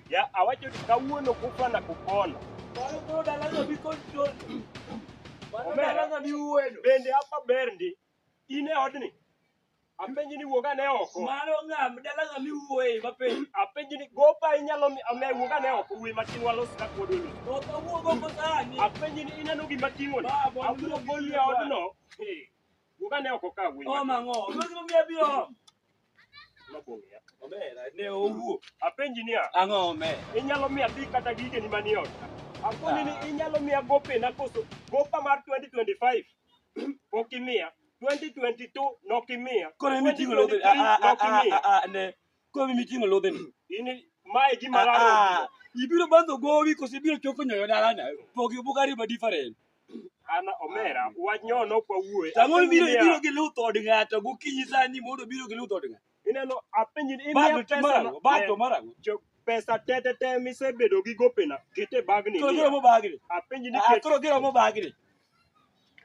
Ya awacho ni kawuono kufa na kupona. Mano koro dalano bi control. Mano dalano bi uwedo. Bende hapa ber ndi in e odni Apenji ni wuog ane oko. Mano ng'a dala ng'a miwuoye mapenji. Apenji ni gopa inyalo mi ame wuog ane oko wuoye matin walos ka kuodo ni. Ok awuog oko sani. Apenji ni ineno gima ting'o ni. Abiro goli e odno. Wuog ane oko ka wuoye. Oh mang'o. Mano gima miya biro. Mabong'e. Omera ne owuo. Apenji niya. Ang'o omera. Inyalo miya pi kata gigeni manie ot. Apenji ni inyalo miya gope na koso gopa mar 2025. Pok imiya. 2022 nokimiya. Koro emi ting'o lodhe. 2023 Ah, ah, ah, nokimiya. ah, ah, ne. Koro emi ting'o lodhe ni. In mae gima Ah, laro. ah. Ibiro bandho gowi koso ibiro choko nyoyo dalana. Pogi buk ariba different. An omera wach nyono kwa wuoye. Samoro ibiro ibiro gi luth od ng'ato gokinyi sani mondo obiro gi luth od ng'ato. Ineno apenji ni imiya Bado pesa na- marago, bado eh, marago. jo- pesa te te te misebedo gi gopena kete bagni. Koro giromo bagni. Apenji ni Ah, ket koro giromo bagni.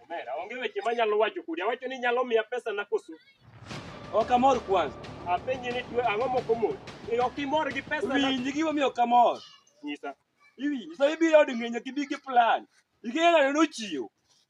omera onge weche manyalo wacho kodi. Awacho ni nyalo miya pesa na koso. Ok amor kwanza. Apenji ni twe ang'o moko mos. Eh, Ok imor gi pesa na Winji gima miyo ok amor. nyisa. Iwinji, sa ibiro od ng'eny ok ibi gi plan. Ikelo ni nochiwo.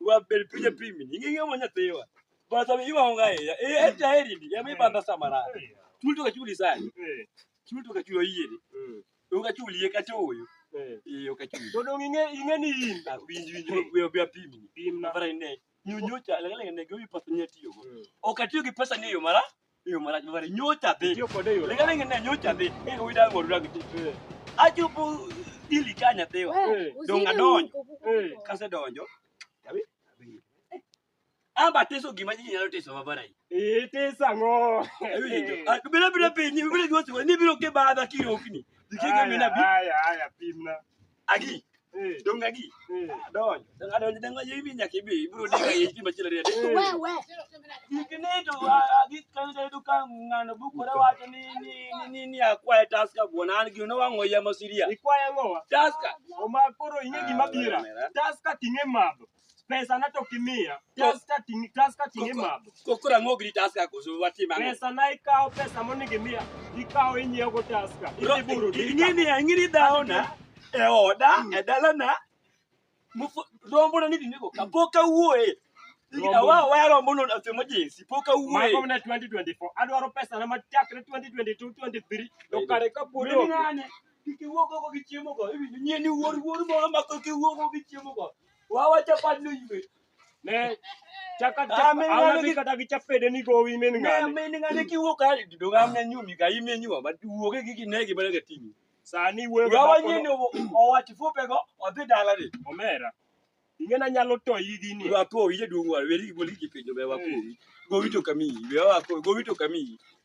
wa bel pinye pimi ni ngi mo nyatewa ba sa mi wa nga ya e e ta eri ni ya mi banda samara chul to ka chuli sai Eh, chul to ka chulo yie ni mm, u ka chuli ye ka toyo eh. e u ka chuli To dong ing'e ing'e ni in. na winji winji we be pimi ni Pimna. mara ne nyu nyu cha la la ne go wi pesa nya tiyo go Mm. o ka tiyo gi pesa ni yo mara Eyo marach mabare nyocha dhi. Tiyo kode e yore. Lenga lenga ne nyocha dhi. Eh wida ngoro dag ti. Eh, Achopo dili ka nyathiwa. Eh, Donga donjo. eh. Kase donjo. Yabi. Amba teso gima ji nyalo teso mabare. Itisa ng'o. Bila bila piny, bila gima siwa, ni biro ke badha kirokni. Dikenge Aya, mina bi. aya, aya, pimna. agi Eh, dong agi eh. adonjo dong adonjo dong ayo ibi nyaka ibi ibiro diga ye ibi machielo riya dong Wewe. ikni to agi kan da duka ngano bukore wacho ni ni ni- ni ni akwaye taska buona an gino wango ya masiria Ikwaya ngowa. taska Oma koro ing'e gima bira. Taska ting'e madho. Pesa na to kimiya. Taska tingi taska tingi mab. Kokora ng'og ni taska koso watim ang'o? Pesa na ikawo pesa monego imiya. Ikawo inyiewo go taska. Bro, Idhi buru dika. ing'eni ang'ini dhaona e oda e dalana mufu- rombona ni dine koka pok awuoye Rombo. awa waya rombono asemo jinsi pok Mago awuoye mna 2024. Adwaro pesa na machakre 2022 23. To kare ka pod Meni onge. ng'ane kik iwuog oko gi chiemogo iwinjo nyien iwuor wuor moro ma kik iwuog oko gi chiemogo Wawa chapat no ywe. Ne chaka Ah, chapa min ng'ano auna gi- kata gi chapede ni gowi min Ne ng'ane. min ng'ane kiwuok ka do ng'am ne nyumi ka ime nyuwa but wuoge gi kinegi bana ga timi. Sani wuoyo Wawa gi nyeni dhako no, owati fupe go odhi dala ni. omera. Ing'ena nyalo toyi gi ni. Wapo wije duong' wa weri goli gi penjo be wapo. Gowi to kami, we wapo gowi to kami.